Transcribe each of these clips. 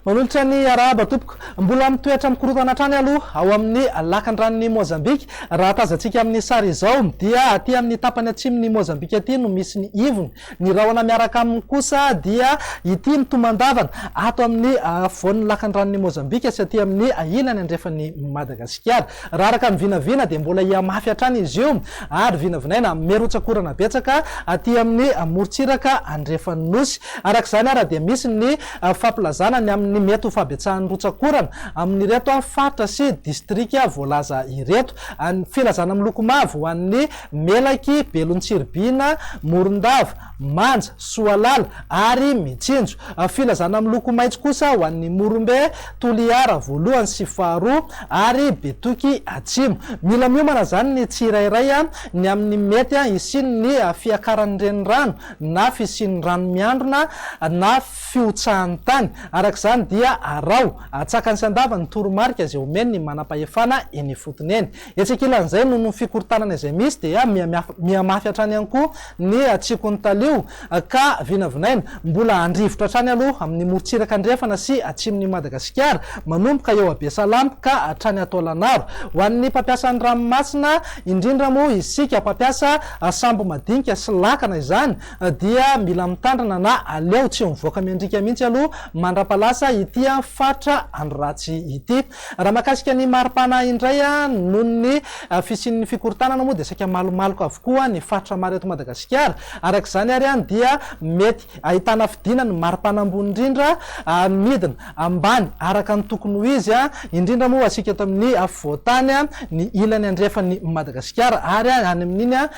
Manolotra ny arahaba tompoko. Mbola mitoetra mikorontana hatrany aloha ao amin'ny lakandranon'i Mozambika. Raha tazantsika amin'ny sary izao dia aty amin'ny tapany atsimon'i Mozambika aty no misy ny ivony Ny rahona miaraka aminy kosa dia ity mitomandavana ato amin'ny afovoan'ny lakan'ny ranon'i Mozambika sy aty amin'ny ilany andrefan'i Madagasikara. Raha araka ny vinavina dia mbola hihamafy hatrany izy io ary vinavinaina mirotsak'orana betsaka aty amin'ny morontsiraka andrefan'ny Nosy. Araka izany ary dia misy ny fampilazana ny amin'ny mety ho fahabetsahan'ny rotsak'orana amin'ireto faritra sy distrika voalaza ireto. Filazana miloko mavo ho an'ny Melaky, Belontsiribihina, Morondava, Manja, Soalala ary Mitsinjo. Filazana miloko maitso kosa ho an'ny Morombe, Toliara voalohany sy faharoa ary Betoky Atsimo. Mila miomana izany ny tsirairay ny amin'ny mety hisian'ny fiakaran'ny renirano na fisian'ny rano miandrona na fihotsahan'ny tany. Araka izany dia araho, atsakany sy andavany ny toromarika izay omen'ny manam-pahefana eny ifotony eny. Etsy ankilan'izay, noho ny fikorontanana izay misy dia mihamafy hatrany ihany koa ny hatsiakon'ny talio ka vinavinaina mbola handrivotra hatrany aloha amin'ny morontsiraka andrefana sy atsimon'i Madagasikara, manomboka eo Abesalamp ka hatrany ato Alanaro. Ho an'ny mpampiasa ny ranomasina, indrindra moa isika mpampiasa sambo madinika sy lakana izany dia mila mitandrina na aleo tsy mivoaka miandriaka mihitsy aloha mandra-pahalasa ity faritra andro ratsy ity. Raha mahakasika ny mari-pana indray, noho ny fisian'ny fikorontanana moa dia saika malomaloka avokoa ny faritra maro eto Madagasikara. Araka izany ary dia mety ahitana fidina ny mari-pana ambony indrindra midina ambany araka ny tokony ho izy, indrindra moa ho antsika eto amin'ny afovoan-tany, ny ilany andrefan'i Madagasikara ary any amin'iny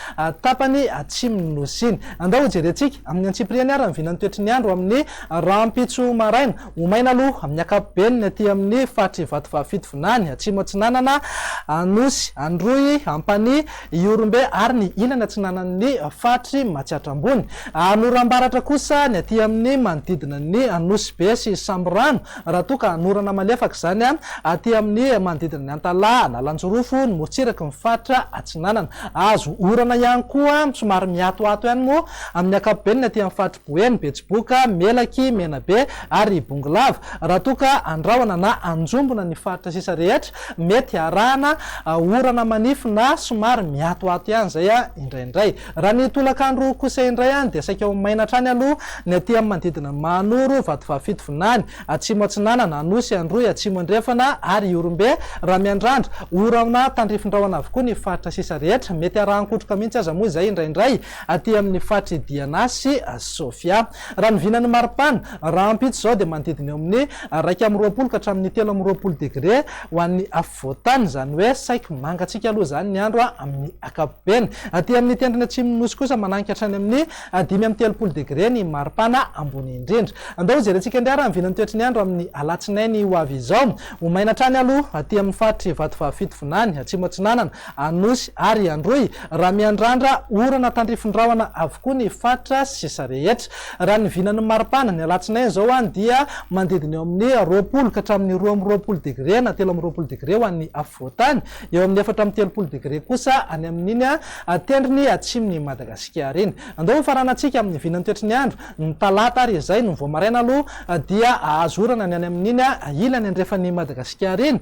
tapany atsimon'ny Nosy iny. Andao hojerentsika amin'ny antsipiriany ary ny vinan'ny toetry ny andro amin'ny rahampitso maraina. Ho maina aloha amin'ny ankapobeny ny aty amin'ny faritr'i Vatovavy-Fito Vinany, Atsimo Atsinanana, Anosy, Androy, Ampanihy, Ihorombe ary ny ilany atsinanan'ny faritr'i Matsiatra Ambony. Hahanora am-baratra kosa ny aty amin'ny manodidina ny Nosy Be sy Sambirano, raha toa ka hanorana malefaka izany aty amin'ny manodidina ny Antalaha, Analanjirofo, ny morontsiraky ny faritra Atsinanana. Hahazo orana ihany koa somary mihatohato ihany moa amin'ny ankapobeny ny aty amin'ny faritr'i Hoe ny betsiboka, melaky, menabe ary ibongolava, raha toa ka andrahona na anjombona ny faritra sisa rehetra, mety harahana orana manify na somary miatoato ihany izay indraindray. Raha ny tolakandro kosa indray dia saika ho maina hatrany aloha ny aty amin'ny manodidina an'i Mahanoro, Vatovavy-fito vinany, Atsimo Atsinanana, Anosy, Androy, Atsimo Andrefana ary Ihorombe, raha miandrandra orana tandrifindrahona avokoa ny faritra sisa rehetra. Mety arahan-kotroka mihitsy aza moa izay indraindray. aty amin'ny faritry Diana sy Sofia. Raha ny vinan'ny maripana, rahampitso izao dia manodidina eo amin'ny iraika amby roapolo ka hatramin'ny telo amby roapolo degre ho an'ny afovoan-tany, izany hoe saiky mangatsiaka aloha izany ny andro amin'ny ankapobeny. Aty amin'ny tendrony atsimon'ny Nosy kosa manangy ka hatrany amin'ny dimy amby telopolo degre ny maripana ambony indrindra. Andao ho jerentsika indray ary ny vinan'ny toetry ny andro amin'ny alatsinainy ho avy izao. Ho maina hatrany aloha aty amin'ny faritry Vatovavy Fitovinany, Atsimo Atsinanana, Anosy ary Androy raha miandrandra orana tandrifin-drahona avokoa ny faritra sisa rehetra. Raha ny vinan'ny maripana, ny alatsinainy izao any dia manodidina eo amin'ny roapolo ka hatramin'ny roa amby roapolo degre na telo amby roapolo degre ho an'ny afovoantany, eo amin'ny efatra amby telopolo degre kosa any amin'iny tendrony atsimon'i Madagasikara iny. Andao hofaranantsika amin'ny vinan'ny toetry ny andro ny talata ary izay no vao maraina aloha dia hahazo orana ny any amin'iny ilany andrefan'i Madagasikara iny.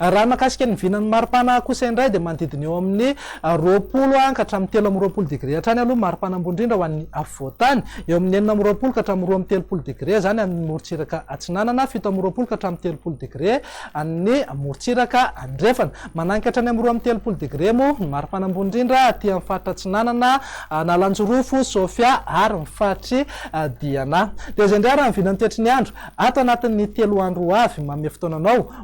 Raha ny mahakasika ny vinan'ny maripana kosa indray dia manodidina eo amin'ny roapolo ka hatramin'ny telo amby roapolo degré hatrany aloha ny maripana ambony indrindra ho an'ny afovoantany, eo amin'ny enina amby roapolo ka hatramin'ny roa amby telopolo degré izany any amin'ny morontsiraka atsinanana, fito amby roapolo ka hatramin'ny telopolo degré any morontsiraka andrefana. Mananika hatrany amin'ny roa amby telopolo degré moa ny maripana ambony indrindra aty amin'ny faritra atsinanana, Analanjirofo, Sofia ary ny faritry Diana. Dia izay indray raha ny vinan'ny toetry ny andro ato anatin'ny telo andro ho avy, manome fotoana anao